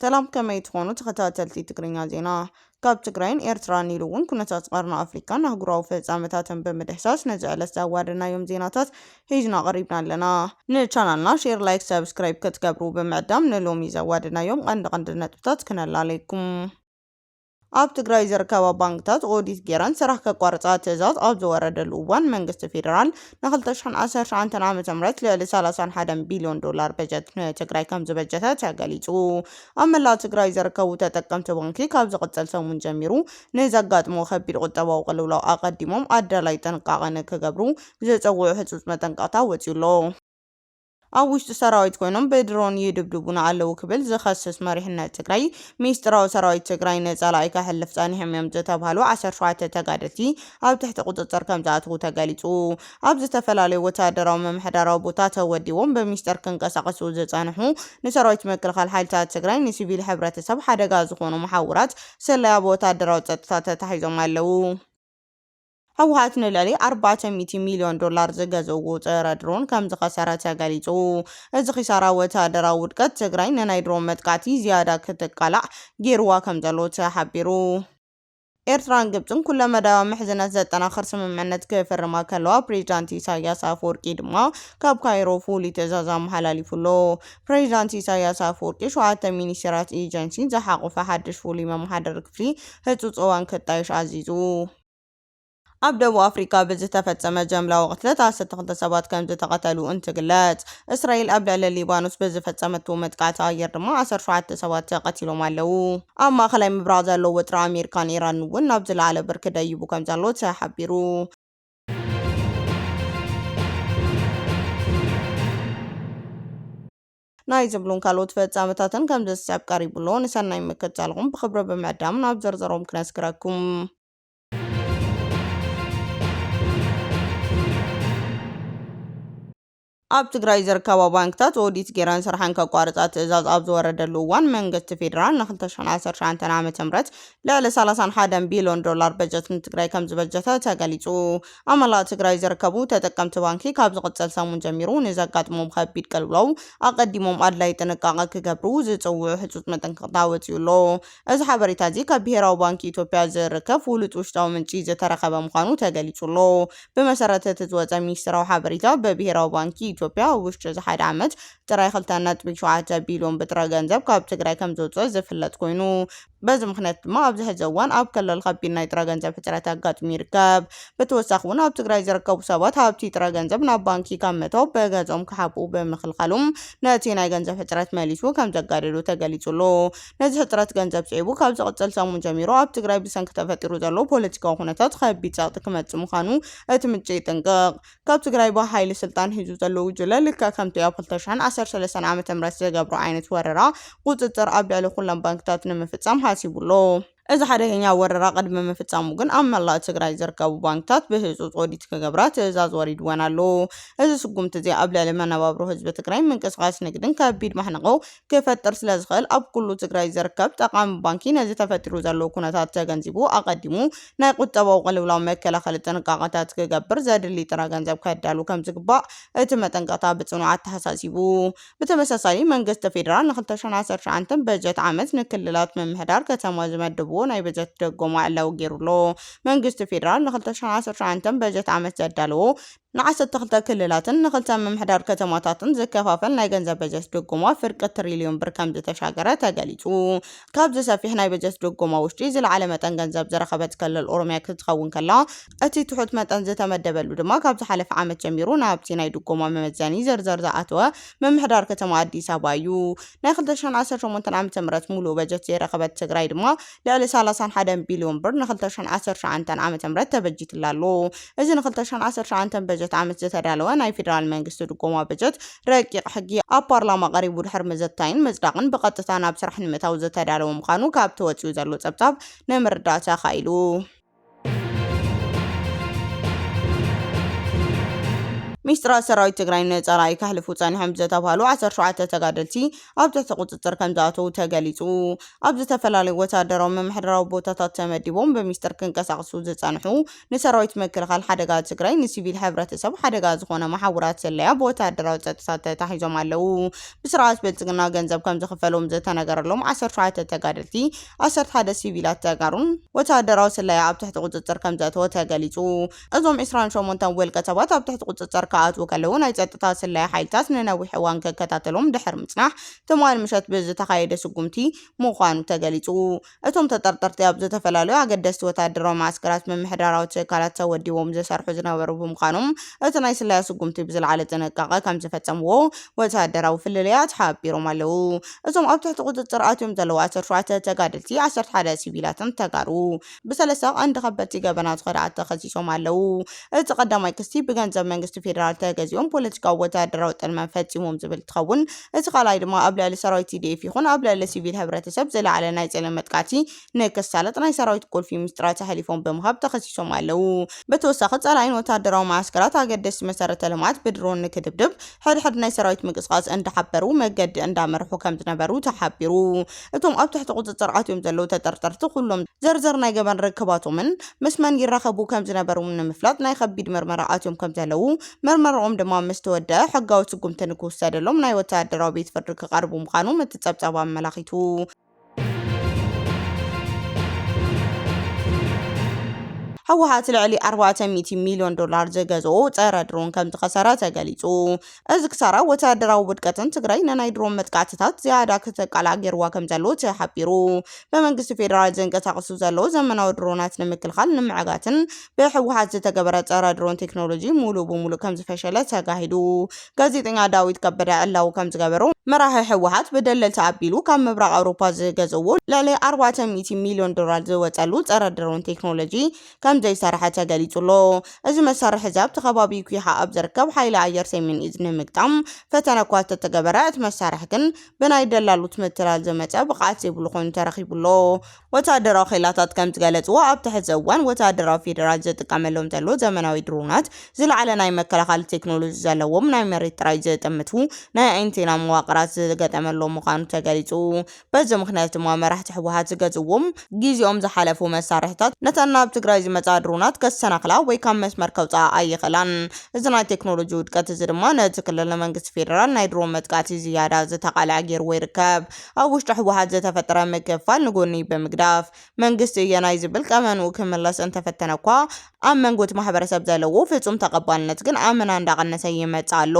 ሰላም ከመይ ትኾኑ ተኸታተልቲ ትግርኛ ዜና ካብ ትግራይን ኤርትራን ኢሉ እውን ኩነታት ቀርኒ ኣፍሪካን ኣህጉራዊ ፍጻመታትን ብምድሕሳስ ነዚ ዕለት ዘዋደናዮም ዜናታት ሒዝና ቀሪብና ኣለና ንቻናልና ሼር ላይክ ሰብስክራይብ ክትገብሩ ብምዕዳም ንሎሚ ዘዋደናዮም ቀንዲ ቀንዲ ነጥብታት ክነላለየኩም ኣብ ትግራይ ዝርከባ ባንክታት ኦዲት ገይረን ስራሕ ከቋርፃ ትእዛዝ ኣብ ዝወረደሉ እዋን መንግስቲ ፌዴራል ን ክልተ ሽሕን ዓሰርተ ሸውዓንተን ዓመተ ምህረት ልዕሊ ሰላሳን ሓደን ቢልዮን ዶላር በጀት ንትግራይ ከምዝበጀተ ተገሊፁ። ኣብ መላእ ትግራይ ዝርከቡ ተጠቀምቲ ባንኪ ካብ ዝቕፅል ሰሙን ጀሚሩ ንዘጋጥሞ ከቢድ ቁጠባዊ ቅልውላው ኣቐዲሞም ኣዳላዪ ጥንቃቐ ንክገብሩ ዝፅውዕ ህፁፅ መጠንቀቕታ ወፂኡ ኣሎ። ኣብ ውሽጢ ሰራዊት ኮይኖም ብድሮን ይድብድቡና ኣለው ክብል ዝኸስስ መሪሕነት ትግራይ፣ ሚስጥራዊ ሰራዊት ትግራይ ንፀላኢ ከሕልፍ ፀኒሖም እዮም ዝተብሃሉ ዓሰርተ ሸውዓተ ተጋደልቲ ኣብ ትሕቲ ቁፅፅር ከምዝኣትው ተገሊፁ። ኣብ ዝተፈላለዩ ወታደራዊ ምምሕዳራዊ ቦታ ተወዲቦም ብሚስጥር ክንቀሳቐሱ ዝፀንሑ ንሰራዊት ምክልኻል ሓይልታት ትግራይ ንሲቪል ሕብረተሰብ ሓደጋ ዝኾኑ መሓውራት ስለያ ብወታደራዊ ፀጥታ ተታሒዞም ኣለው። ህወሓት ንልዕሊ ኣርባዕተ ሚእቲ ሚልዮን ዶላር ዝገዘዎ ፀረ ድሮን ከምዝኸሰረ ተገሊፁ። እዚ ኺሳራ ወተሃደራዊ ውድቀት ትግራይ ንናይ ድሮን መጥቃዕቲ ዝያዳ ክትቃላዕ ገይሩዋ ከምዘሎ ተሓቢሩ። ኤርትራን ግብጽን ኩለመዳያዊ ምሕዝነት ዘጠናኽር ስምምዕነት ክፍርማ ከለዋ ፕሬዚዳንት ኢሳይያስ ኣፈወርቂ ድማ ካብ ካይሮ ፍሉይ ትእዛዝ ኣመሓላሊፉ ኣሎ። ፕሬዚዳንት ኢሳይያስ ኣፈወርቂ ሸውዓተ ሚኒስቴራት ኤጀንሲን ዝሓቖፈ ሓድሽ ፍሉይ መመሓደሪ ክፍሊ ህፁፅ እዋን ክጣየሽ ኣዚዙ። ኣብ ደቡብ ኣፍሪቃ ብዝተፈጸመ ጀምላዊ ቅትለት ዓሰርተ ክልተ ሰባት ከምዝተቐተሉ እንትግለጽ፣ እስራኤል ኣብ ልዕሊ ሊባኖስ ብዝፈጸመቶ መጥቃዕቲ ኣየር ድማ ዓሰርተ ሸውዓተ ሰባት ተቐቲሎም ኣለዉ። ኣብ ማእከላይ ምብራቕ ዘሎ ወጥሪ ኣሜሪካን ኢራንን'ውን ናብ ዝለዓለ ብርኪ ደይቡ ከምዘሎ ተሓቢሩ። ናይ ዝብሉን ካልኦት ፍጻመታትን ከምዚ ዝስዕብ ቀሪቡ ኣሎ። ንሰናይ ምክትታልኹም ብኽብሪ ብምዕዳም ናብ ዝርዝሮም ክነስግረኩም። ኣብ ትግራይ ዝርከባ ባንክታት ኦዲት ጌረን ስርሐን ከቋርፃ ትእዛዝ ኣብ ዝወረደሉ እዋን መንግስቲ ፌዴራል ን2019 ዓ.ም ልዕሊ 31 ቢልዮን ዶላር በጀት ንትግራይ ከምዝበጀተ ተገሊፁ። ኣብ መላእ ትግራይ ዝርከቡ ተጠቀምቲ ባንኪ ካብ ዝቕፅል ሰሙን ጀሚሩ ንዘጋጥሞም ኸቢድ ቅልውላው ኣቐዲሞም ኣድላይ ጥንቃቐ ክገብሩ ዝፅውዑ ህፁፅ መጠንቀቕታ ወፂኡ ኣሎ። እዚ ሓበሬታ እዚ ካብ ብሄራዊ ባንኪ ኢትዮጵያ ዝርከብ ፍሉጥ ውሽጣዊ ምንጪ ዝተረኸበ ምዃኑ ተገሊፁ ኣሎ። ብመሰረት እቲ ዝወፀ ሚኒስትራዊ ሓበሬታ ብብሄራዊ ባንኪ ኢትዮጵያ ኣብ ውሽጢ እዚ ሓደ ዓመት ጥራይ ክልተ ነጥቢ ሸውዓተ ቢልዮን ብጥረ ገንዘብ ካብ ትግራይ ከምዝወፅእ ዝፍለጥ ኮይኑ በዚ ምኽንያት ድማ ኣብዚ ሕዚ እዋን ኣብ ክልል ከቢድ ናይ ጥረ ገንዘብ ሕፅረት ኣጋጢሙ ይርከብ። ብተወሳኺ እውን ኣብ ትግራይ ዝርከቡ ሰባት ሃብቲ ጥረ ገንዘብ ናብ ባንኪ ካብ ምእታው ብገዝኦም ክሓብኡ ብምኽልኻሎም ነቲ ናይ ገንዘብ ሕፅረት መሊሱ ከምዘጋደዶ ተገሊፁ ኣሎ። ነዚ ሕፅረት ገንዘብ ስዒቡ ካብ ዝቕፅል ሰሙን ጀሚሩ ኣብ ትግራይ ብሰንኪ ተፈጢሩ ዘሎ ፖለቲካዊ ኩነታት ከቢድ ፀቕጢ ክመፅእ ምዃኑ እቲ ምንጪ ይጥንቅቕ። ካብ ትግራይ ብሃይሊ ስልጣን ሒዙ ዘሎ ጉጅለ ልክዕ ከምቲ ኣብ ክልተ ሽሕን ዓሰርተ ሰለስተን ዓመተ ምህረት ዝገብሮ ዓይነት ወረራ ቁፅፅር ኣብ ልዕሊ ኩሎም ባንክታት ንምፍፃም ሓሲቡ ኣሎ። እዚ ሓደገኛ ወረራ ቅድሚ ምፍፃሙ ግን ኣብ መላእ ትግራይ ዝርከቡ ባንክታት ብህፁፅ ኦዲት ክገብራ ትእዛዝ ወሪድወን ኣሎ። እዚ ስጉምቲ እዚ ኣብ ልዕሊ መነባብሮ ህዝቢ ትግራይ፣ ምንቅስቓስ ንግድን ከቢድ ማሕንቖ ክፈጥር ስለዝኽእል ኣብ ኩሉ ትግራይ ዝርከብ ጠቓሚ ባንኪ ነዚ ተፈጢሩ ዘሎ ኩነታት ተገንዚቡ ኣቐዲሙ ናይ ቁጠባዊ ቅልውላው መከላኸሊ ጥንቃቐታት ክገብር ዘድሊ ጥረ ገንዘብ ከዳሉ ከምዝግባእ እቲ መጠንቀቕታ ብፅኑዕ ኣተሓሳሲቡ። ብተመሳሳሊ መንግስቲ ፌዴራል ን ክልተ ሽሕን ዓሰርተ ሸውዓንተ በጀት ዓመት ንክልላት ምምሕዳር ከተማ ዝመደብዎ ናይ በጀት ድጎማ ዕላዊ ገይሩ ኣሎ። መንግስቲ ፌዴራል ን ክልተ ሽሕን ዓሰርተ ሸውዓንተ በጀት ዓመት ዘዳለዎ ንዓሰርተ ክልተ ክልላትን ንክልተ ምምሕዳር ከተማታትን ዝከፋፈል ናይ ገንዘብ በጀት ድጎማ ፍርቂ ትሪልዮን ብር ከምዝተሻገረ ተገሊፁ። ካብዚ ሰፊሕ ናይ በጀት ድጎማ ውሽጢ ዝለዓለ መጠን ገንዘብ ዝረኸበት ክልል ኦሮሚያ ክትኸውን ከላ እቲ ትሑት መጠን ዝተመደበሉ ድማ ካብ ዝሓለፈ ዓመት ጀሚሩ ናብቲ ናይ ድጎማ መመዘኒ ዝርዝር ዝኣተወ ምምሕዳር ከተማ ኣዲስ ኣበባ እዩ። ናይ ክልተ ሽሕን ዓሰርተ ሸሞንተን ዓመተ ምህረት ሙሉእ በጀት ዘይረኸበት ትግራይ ድማ ልዕሊ ሰላሳን ሓደን ቢልዮን ብር ንክልተ ሽሕን ዓሰርተ ትሽዓንተን ዓመተ ምህረት ተበጂትላ ኣሎ። እዚ ንክልተ ሽሕን ዓሰርተ ትሽዓንተን በጀት ዓመት ዝተዳለወ ናይ ፌደራል መንግስቲ ድጎማ በጀት ረቂቕ ሕጊ ኣብ ፓርላማ ቀሪቡ ድሕሪ ምዝታይን ምጽዳቕን ብቐጥታ ናብ ስራሕ ንምእታው ዝተዳለወ ምዃኑ ካብቲ ወጺኡ ዘሎ ጸብጻብ ንምርዳእ ተኻኢሉ። ሚስጥራት ሰራዊት ትግራይ ንፀላኢ ከሕልፉ ፀኒሖም ዝተብሃሉ 17 ተጋደልቲ ኣብ ትሕቲ ቁፅፅር ከም ዝኣተዉ ተገሊፁ። ኣብ ዝተፈላለዩ ወታደራዊ ምምሕዳራዊ ቦታታት ተመዲቦም ብሚስጥር ክንቀሳቕሱ ዝፀንሑ ንሰራዊት ምክልኻል ሓደጋ ትግራይ ንሲቪል ሕብረተሰብ ሓደጋ ዝኾነ መሓውራት ስለያ ብወታደራዊ ፀጥታ ተታሒዞም ኣለዉ። ብስርዓት ብልፅግና ገንዘብ ከም ዝኽፈሎም ዝተነገረሎም 17 ተጋደልቲ ዓሰርተ ሓደ ሲቪላት ተጋሩን ወተሃደራዊ ስለያ ኣብ ትሕቲ ቁፅፅር ከምዘእተወ ተገሊፁ። እዞም ዕስራን ሸሞንተን ውልቀ ሰባት ኣብ ትሕቲ ቁፅፅር ክኣትዉ ከለዉ ናይ ፀጥታ ስለያ ሓይልታት ንነዊሕ እዋን ክከታተሎም ድሕሪ ምፅናሕ ትማሊ ምሸት ብዝተኻየደ ስጉምቲ ምዃኑ ተገሊፁ። እቶም ተጠርጠርቲ ኣብ ዝተፈላለዩ ኣገደስቲ ወተሃደራዊ መዓስከራት ምምሕዳራዊ ትካላት ተወዲቦም ዝሰርሑ ዝነበሩ ብምዃኖም እቲ ናይ ስለያ ስጉምቲ ብዝለዓለ ጥንቃቐ ከምዝፈፀምዎ ወተሃደራዊ ፍልልያት ሓቢሮም ኣለዉ። እዞም ኣብ ትሕቲ ቁፅፅር ኣትዮም ዘለዉ ዓሰርተ ሸውዓተ ተጋደልቲ፣ ዓሰርተ ሓደ ሲቪላትን ተጋሩ ብሰለስተ ቀንዲ ከበድቲ ገበናት ኸድዓት ተኸሲሶም ኣለዉ። እቲ ቀዳማይ ክስቲ ብገንዘብ መንግስቲ ፌደራል ተገዚኦም ፖለቲካዊ ወተሃደራዊ ጥልመት ፈፂሞም ዝብል እንትኸውን እቲ ካልኣይ ድማ ኣብ ልዕሊ ሰራዊት TDF ይኹን ኣብ ልዕሊ ሲቪል ሕብረተሰብ ዝለዓለ ናይ ፅልኢ መጥቃዕቲ ንክሳለጥ ናይ ሰራዊት ቁልፊ ምስጢራት ኣሕሊፎም ብምሃብ ተኸሲሶም ኣለዉ። ብተወሳኺ ፀላኢ ንወታደራዊ መዓስከራት፣ ኣገደስቲ መሰረተ ልምዓት ብድሮን ንክድብድብ ሕድሕድ ናይ ሰራዊት ምንቅስቓስ እንዳሓበሩ መገዲ እንዳመርሑ ከምዝነበሩ ተሓቢሩ። እቶም ኣብ ትሕቲ ቁፅፅር ኣትዮም ዘለዉ ተጠርጠርቲ ኩሎም ዝርዝር ናይ ገበን ርክባቶምን ምስ መን ይራኸቡ ከምዝነበሩን ንምፍላጥ ናይ ከቢድ ምርመራ ኣትዮም ከምዘለዉ ምርመረኦም ድማ ምስተወደኣ ሕጋዊ ስጉምቲ ንክውሰደሎም ናይ ወታደራዊ ቤት ፍርዲ ክቐርቡ ምዃኖም እቲ ፀብፃብ ኣመላኺቱ። ህወሓት ልዕሊ ኣርባዕተ ሚእቲ ሚልዮን ዶላር ዝገዝኦ ጸረ ድሮን ከም ዝኸሰረ ተገሊጹ። እዚ ክሳራ ወተሃደራዊ ውድቀትን ትግራይ ንናይ ድሮን መጥቃዕትታት ዝያዳ ክትቃላዕ ገይርዋ ከም ዘሎ ተሓቢሩ። ብመንግስቲ ፌደራል ዝንቀሳቐሱ ዘለዉ ዘመናዊ ድሮናት ንምክልኻል ንምዕጋትን ብህወሓት ዝተገበረ ፀረ ድሮን ቴክኖሎጂ ሙሉእ ብሙሉእ ከምዝፈሸለ ተጋሂዱ። ጋዜጠኛ ዳዊት ከበደ ዕላዊ ከምዝገበሮ መራሒ ህወሓት ብደለልቲ ኣቢሉ ካብ ምብራቕ ኣውሮፓ ዝገዘዎ ልዕሊ ኣርባዕተ ሚእቲ ሚልዮን ዶላር ዝወፀሉ ፀረ ድሮን ቴክኖሎጂ ከምዘይሰረሐ ተገሊፁ ኣሎ። እዚ መሳርሒ እዚ ኣብቲ ከባቢ ኲሓ ኣብ ዝርከብ ሓይሊ ኣየር ሰሜን እዝ ንምግጣም ፈተነ እኳ እንተተገበረ እቲ መሳርሒ ግን ብናይ ደላሎት ምትላል ዝመፀ ብቕዓት ዘይብሉ ኮይኑ ተረኺቡ ኣሎ። ወተሃደራዊ ኼላታት ከም ዝገለጽዎ፣ ኣብ'ቲ ሕዚ እዋን ወተሃደራዊ ፌደራል ዝጥቀመሎም ዘሎ ዘመናዊ ድሮናት፣ ዝለዓለ ናይ መከላኸሊ ቴክኖሎጂ ዘለዎም፣ ናይ መሬት ጥራይ ዝጥምቱ፣ ናይ ኣንቴና መዋቕራት ዝገጠመሎም ምዃኑ ተገሊጹ። በዚ ምኽንያት ድማ መራሕቲ ህወሓት ዝገዝእዎም ግዜኦም ዝሓለፉ መሳርሒታት፣ ነተን ናብ ትግራይ ዝመጻ ድሮናት ከሰናኽላ ወይ ካብ መስመር ከውጽኣ ኣይኽእላን። እዚ ናይ ቴክኖሎጂ ውድቀት እዚ ድማ ነቲ ክልል ንመንግስቲ ፌደራል ናይ ድሮን መጥቃዕቲ ዝያዳ ዝተቓልዐ ጌርዎ ይርከብ። ኣብ ውሽጢ ህወሓት ዝተፈጠረ ምክፍፋል ንጎኒ ብምግዳፍ መንግስቲ እየ ናይ ዝብል ቀመንኡ ክምለስ እንተፈተነኳ ኣብ መንጎቲ ማሕበረሰብ ዘለዎ ፍፁም ተቐባልነት ግን ኣመና እንዳቐነሰ ይመፅእ ኣሎ።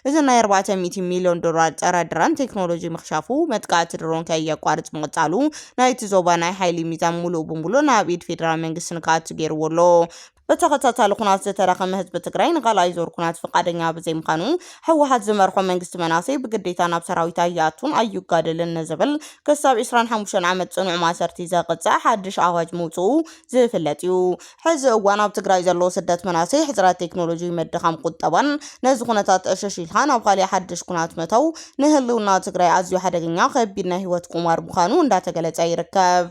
እዚ ናይ ኣርባዕተ ሚእቲ ሚልዮን ዶላር ፀረ ድረን ቴክኖሎጂ ምኽሻፉ፣ መጥቃዕቲ ድሮን ከየቋርፅ ምቕፃሉ ናይቲ ዞባ ናይ ሓይሊ ሚዛን ሙሉእ ብሙሉእ ናብ ኢድ ፌደራል መንግስቲ ንክኣቱ ገይርዎ ኣሎ። ብተኸታታሊ ኩናት ዝተረኸመ ህዝቢ ትግራይ ንኻልኣይ ዙር ኩናት ፍቃደኛ ብዘይምኻኑ ህወሓት ዝመርሖ መንግስቲ መናእሰይ ብግዴታ ናብ ሰራዊት ኣይኣቱን ኣይጋደልን ንዝብል ክሳብ ዕስራን ሓሙሽተን ዓመት ፅኑዕ ማእሰርቲ ዘቕፅዕ ሓድሽ ኣዋጅ ምውፅኡ ዝፍለጥ እዩ። ሕዚ እዋን ኣብ ትግራይ ዘሎ ስደት መናእሰይ፣ ሕፅረት ቴክኖሎጂ፣ ምድኻም ቁጠባን ነዚ ኩነታት ዕሽሽ ኢልካ ናብ ኻሊእ ሓድሽ ኩናት ምእታው ንህልውና ትግራይ ኣዝዩ ሓደገኛ ከቢድ ናይ ህይወት ቁማር ምኻኑ እንዳተገለፀ ይርከብ።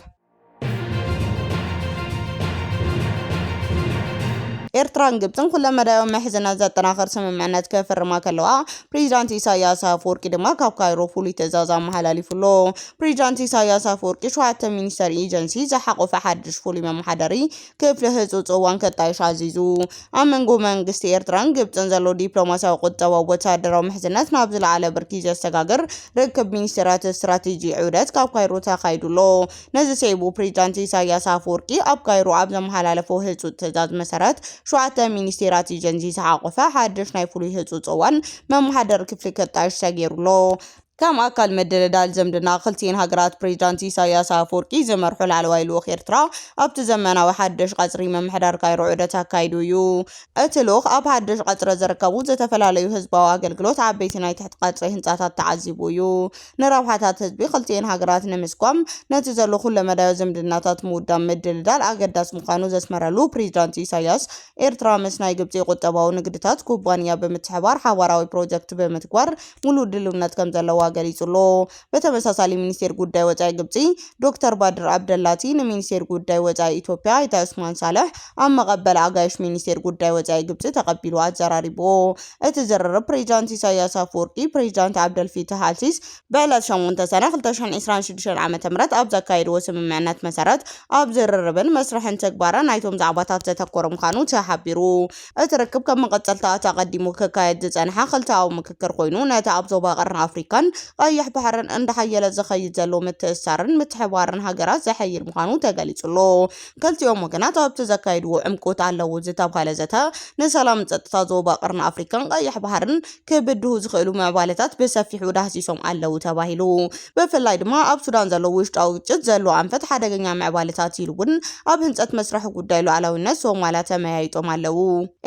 ኤርትራን ግብጽን ኩለመዳያዊ ምሕዝነት ዘጠናኽር ስምምዕነት ክፍርማ ከለዋ ፕሬዚዳንት ኢሳያስ ኣፈወርቂ ድማ ካብ ካይሮ ፍሉይ ትእዛዝ ኣመሓላሊፉ ኣሎ። ፕሬዚዳንት ኢሳያስ ኣፈወርቂ ሸውዓተ ሚኒስተር ኤጀንሲ ዝሓቖፈ ሓድሽ ፍሉይ መመሓደሪ ክፍሊ ህጹጽ እዋን ከጣይሽ ኣዚዙ። ኣብ መንጎ መንግስቲ ኤርትራን ግብጽን ዘሎ ዲፕሎማስያዊ፣ ቁጠባዊ፣ ወተሃደራዊ ምሕዝነት ናብ ዝለዓለ ብርኪ ዘሰጋግር ርክብ ሚኒስተራት ስትራቴጂ ዑደት ካብ ካይሮ ተኻይዱ ኣሎ። ነዚ ስዒቡ ፕሬዚዳንት ኢሳይያስ ኣፈወርቂ ኣብ ካይሮ ኣብ ዘመሓላለፎ ህጹጽ ትእዛዝ መሰረት ሸውዓተ ሚኒስቴራት ኤጀንሲ ዝሓቖፈ ሓድሽ ናይ ፍሉይ ህጹጽ እዋን መመሓደሪ ክፍሊ ከጣይሽ ተገይሩ ኣሎ። ከም ኣካል ምድልዳል ዝምድና ክልቲኤን ሃገራት ፕሬዚዳንት ኢሳይያስ ኣፈወርቂ ዝመርሑ ላዕለዋይ ልኡኽ ኤርትራ ኣብቲ ዘመናዊ ሓድሽ ቀጽሪ ምምሕዳር ካይሮ ዑደት ኣካይዱ እዩ። እቲ ልኡኽ ኣብ ሓድሽ ቀጽሪ ዝርከቡ ዝተፈላለዩ ህዝባዊ ኣገልግሎት ዓበይቲ ናይ ትሕቲ ቀጽሪ ህንጻታት ተዓዚቡ እዩ። ንረብሓታት ህዝቢ ክልቲኤን ሃገራት ንምስጓም ነቲ ዘሎ ኩለመዳያዊ ዝምድናታት ምውዳብ ምድልዳል ኣገዳሲ ምዃኑ ዘስመረሉ ፕሬዚዳንት ኢሳይያስ፣ ኤርትራ ምስ ናይ ግብጺ ቁጠባዊ ንግድታት ኩባንያ ብምትሕባር ሓባራዊ ፕሮጀክት ብምትግባር ሙሉእ ድልውነት ከምዘለዋ ገሊጹ'ሎ። በተመሳሳሊ ሚኒስቴር ጉዳይ ወጻኢ ግብጺ ዶክተር ባድር ኣብደላቲ ንሚኒስቴር ጉዳይ ወጻኢ ኢትዮጵያ ኣይተ ዑስማን ሳልሕ ኣብ መቐበል ኣጋይሽ ሚኒስቴር ጉዳይ ወጻኢ ግብጺ ተቐቢሉ ኣዘራሪቡዎ። እቲ ዝርርብ ፕሬዚዳንት ኢሳይያስ ኣፈወርቂ፣ ፕሬዚዳንት ዓብደልፊታህ ኣልሲስ፣ ብዕለት ሸሞንተ ሰነ ክልተ ሽሕን ዒስራን ሽዱሽተን ዓመተ ምህረት ኣብ ዘካየድዎ ስምምዕነት መሰረት ኣብ ዝርርብን መስርሕን ትግባረ ናይቶም ዛዕባታት ዘተኮረ ምዃኑ ተሓቢሩ። እቲ ርክብ ከም መቐጸልታ እቲ ኣቐዲሙ ክካየድ ዝጸንሐ ክልተኣዊ ምክክር ኮይኑ ነቲ ኣብ ዞባ ቀርኒ ኣፍሪካን ቀይሕ ባሕርን እንዳሓየለ ዝኸይድ ዘሎ ምትእስሳርን ምትሕብባርን ሃገራት ዘሐይል ምዃኑ ተገሊጹ'ሎ። ክልቲኦም ወገናት ኣብቲ ዘካየድዎ ዕምቆት ኣለዎ ዝተብሃለ ዘተ ንሰላምን ጸጥታ ዞባ ቀርኒ ኣፍሪካን ቀይሕ ባሕርን ክብድሁ ዝኽእሉ ምዕባለታት ብሰፊሑ ዳህሲሶም ኣለዉ ተባሂሉ። ብፍላይ ድማ ኣብ ሱዳን ዘሎ ውሽጣዊ ግጭት ዘለዎ ኣንፈት ሓደገኛ ምዕባለታት ኢሉ እውን ኣብ ህንፀት መስርሕ ጉዳይ ሉኣላዊነት ሶማልያ ተመያይጦም ኣለዉ።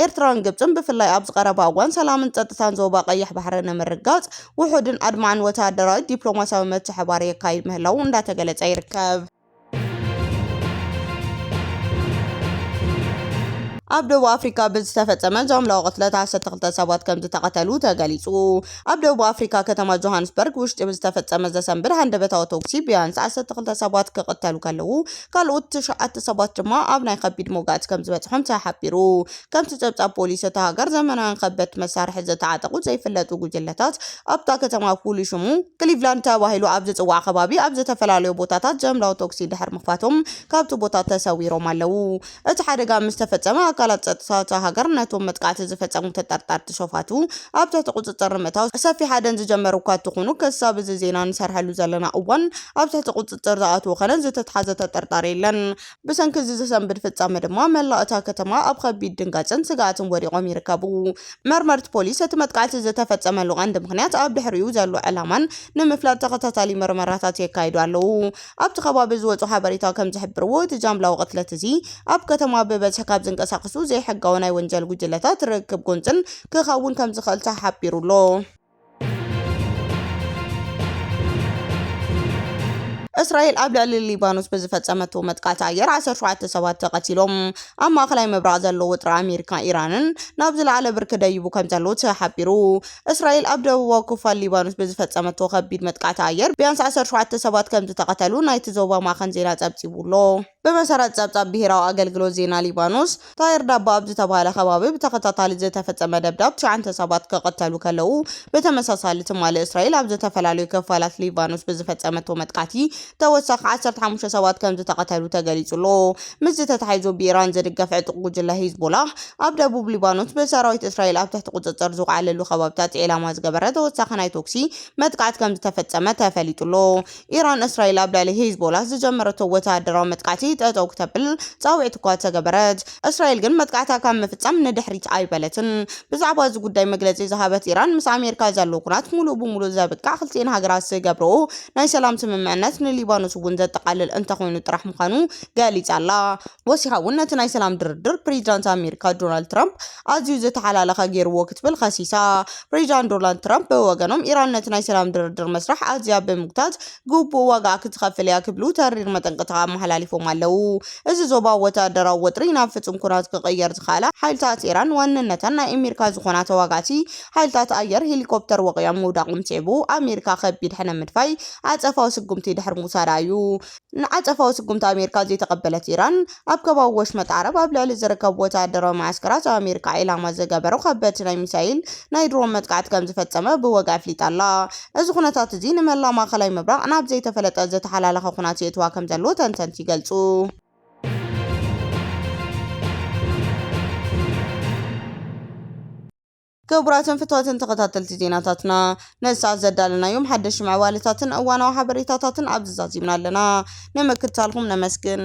ኤርትራን ግብፅን ብፍላይ ኣብዚ ቀረባ እዋን ሰላምን ፀጥታን ዞባ ቀይሕ ባሕሪ ንምርግጋፅ ውሑድን ኣድማዕን ወተሃደራዊ ዲፕሎማሲያዊ ምትሕብባር የካይድ ምህላዉ እንዳተገለፀ ይርከብ። ኣብ ደቡብ ኣፍሪካ ብዝተፈፀመ ዛምላዊ ቅትለት ዓሰርተ ክልተ ሰባት ከም ዝተቐተሉ ተገሊፁ። ኣብ ደቡብ ኣፍሪካ ከተማ ጆሃንስበርግ ውሽጢ ብዝተፈፀመ ዘሰንብድ ሃንደበታዊ ተኩሲ ቢያንስ ዓሰርተ ክልተ ሰባት ክቕተሉ ከለዉ ካልኦት ትሽዓተ ሰባት ድማ ኣብ ናይ ከቢድ መውጋእቲ ከም ዝበፅሖም ተሓቢሩ። ከምቲ ጸብጻብ ፖሊስ እታ ሃገር፣ ዘመናውያን ከበድቲ መሳርሒ ዝተዓጠቑ ዘይፍለጡ ጕጅለታት፣ ኣብታ ከተማ ፍሉይ ሽሙ ክሊቭላንድ ተባሂሉ ኣብ ዝጽዋዕ ከባቢ ኣብ ዝተፈላለዩ ቦታታት ጃምላዊ ተኵሲ ድሕሪ ምኽፋቶም ካብቲ ቦታ ተሰዊሮም ኣለዉ። እቲ ሓደጋ ምስ ተፈጸመ፣ ኣካላት ጸጥታ እታ ሃገር ነቶም መጥቃዕቲ ዝፈጸሙ ተጠርጠርቲ ሸፋቱ ኣብ ትሕቲ ቍጽጽር ንምእታው ሰፊሕ ሃደን ዝጀመሩ እኳ እንተዀኑ፣ ክሳብ እዚ ዜና ንሰርሐሉ ዘለና እዋን ኣብ ትሕቲ ቍጽጽር ዝኣተወ ዀነ ዝተትሓዘ ተጠርጣሪ የለን። ብሰንኪ እዚ ዘሰንብድ ፍፃመ ድማ መላእ እታ ከተማ ኣብ ኸቢድ ድንጋፀን ስግኣትን ወዲቖም ይርከቡ። መርመርቲ ፖሊስ እቲ መጥቃዕቲ ዝተፈፀመሉ ቀንዲ ምኽንያት ኣብ ድሕሪኡ ዘሎ ዕላማን ንምፍላጥ ተኸታታሊ መርመራታት የካይዱ ኣለዉ። ኣብቲ ከባቢ ዝወፁ ሓበሬታ ከምዝሕብርዎ እቲ ጃምላዊ ቅትለት እዚ ኣብ ከተማ ብበዝሒ ካብ ዝንቀሳቐሱ ዘይሕጋዊ ናይ ወንጀል ጉጅለታት ርክብ ጎንፅን ክኸውን ከምዝኽእል ተሓቢሩ ኣሎ። እስራኤል ኣብ ልዕሊ ሊባኖስ ብዝፈጸመቶ መጥቃዕቲ ኣየር 17 ሰባት ተቐቲሎም። ኣብ ማእከላይ ምብራቕ ዘሎ ውጥረ ኣሜሪካ ኢራንን ናብ ዝለዓለ ብርኪ ደይቡ ከም ዘሎ ተሓቢሩ። እስራኤል ኣብ ደቡባዊ ክፋል ሊባኖስ ብዝፈጸመቶ ከቢድ መጥቃዕቲ ኣየር ቢያንስ 17 ሰባት ከም ዝተቐተሉ ናይቲ ዞባ ማዕኸን ዜና ጸብጺቡ'ሎ። ብመሰረት ጸብጻብ ብሄራዊ ኣገልግሎት ዜና ሊባኖስ፣ ጣሂር ዳባ ኣብ ዝተባህለ ከባቢ ብተኸታታሊ ዝተፈጸመ ደብዳብ ትሽዓንተ ሰባት ክቕተሉ ከለዉ፣ ብተመሳሳሊ ትማሊ እስራኤል ኣብ ዝተፈላለዩ ክፋላት ሊባኖስ ብዝፈጸመቶ መጥቃዕቲ ተወሳኺ ዓሰርተ ሓሙሽተ ሰባት ከምዝተቐተሉ ተገሊጹ ኣሎ። ምስዚ ተተሓሒዙ ብኢራን ዝድገፍ ዕጡቕ ጉጅለ ሂዝቦላህ ኣብ ደቡብ ሊባኖስ ብሰራዊት እስራኤል ኣብ ትሕቲ ቁጽጽር ዝውዓለሉ ከባቢታት ዒላማ ዝገበረ ተወሳኺ ናይ ቶክሲ መጥቃዕቲ ከምዝተፈጸመ ተፈሊጡ ኣሎ። ኢራን እስራኤል ኣብ ልዕሊ ሂዝቦላህ ዝጀመረቶ ወተሃደራዊ መጥቃዕቲ ጠጠው ክተብል ጻውዒት እኳ ተገበረት፣ እስራኤል ግን መጥቃዕታ ካብ ምፍጻም ንድሕሪት ኣይበለትን። ብዛዕባ እዚ ጉዳይ መግለጺ ዝሃበት ኢራን፣ ምስ ኣሜሪካ ዘሎ ኩናት ሙሉእ ብሙሉእ ዘብቅዕ ክልቲኤን ሃገራት ዝገብረኦ ናይ ሰላም ስምምዕነት ንሊባኖስ እውን ዘጠቓልል እንተኾይኑ ጥራሕ ምዃኑ ገሊጻ'ላ። ወሲኻ'ውን ነቲ ናይ ሰላም ድርድር ፕሬዚዳንት ኣሜሪካ ዶናልድ ትራምፕ ኣዝዩ ዝተሓላለኸ ገይሩዎ ክትብል ኸሲሳ። ፕሬዚዳንት ዶናልድ ትራምፕ ብወገኖም ኢራን ነቲ ናይ ሰላም ድርድር መስርሕ ኣዝያ ብምግታት ግቡእ ዋጋኣ ክትኸፍል እያ ክብሉ ተሪር መጠንቀቕታ ኣመሓላሊፎም ኣለው። እዚ ዞባዊ ወተሃደራዊ ወጥሪ ናብ ፍፁም ኩናት ክቕየር ዝኸኣላ ሓይልታት ኢራን ዋንነተን ናይ ኣሜሪካ ዝኾና ተዋጋእቲ ሓይልታት ኣየር ሄሊኮፕተር ወቒዖም ምውዳቖም ስዒቡ ኣሜሪካ ከቢድ ሕነ ምድፋይ ዓፀፋዊ ስጉምቲ ድሕሪ ምውሳዳ እዩ። ንዓጸፋዊ ስጉምቲ ኣሜሪካ ዘይተቐበለት ኢራን፣ ኣብ ከባቢ ወሽመጥ ዓረብ ኣብ ልዕሊ ዝርከቡ ወተሃደራዊ መዓስከራት ኣሜሪካ ዒላማ ዝገበሩ ከበድቲ ናይ ሚሳይል ናይ ድሮን መጥቃዕቲ ከምዝፈጸመ ብወግዒ ኣፍሊጣ ኣላ። እዚ ኩነታት እዚ ንመላእ ማእከላይ ምብራቕ ናብ ዘይተፈለጠ ዝተሓላለኸ ኩናት የእትዋ ከምዘሎ ተንተንቲ ይገልጹ። ክቡራትን ፍትዋትን ተኸታተልቲ ዜናታትና ነዚ ሰዓት ዘዳለናዮም ሓደሽቲ ምዕባለታትን እዋናዊ ሓበሬታታትን ኣብዚ ዛዚምና ኣለና። ንምክትታልኩም ነመስግን።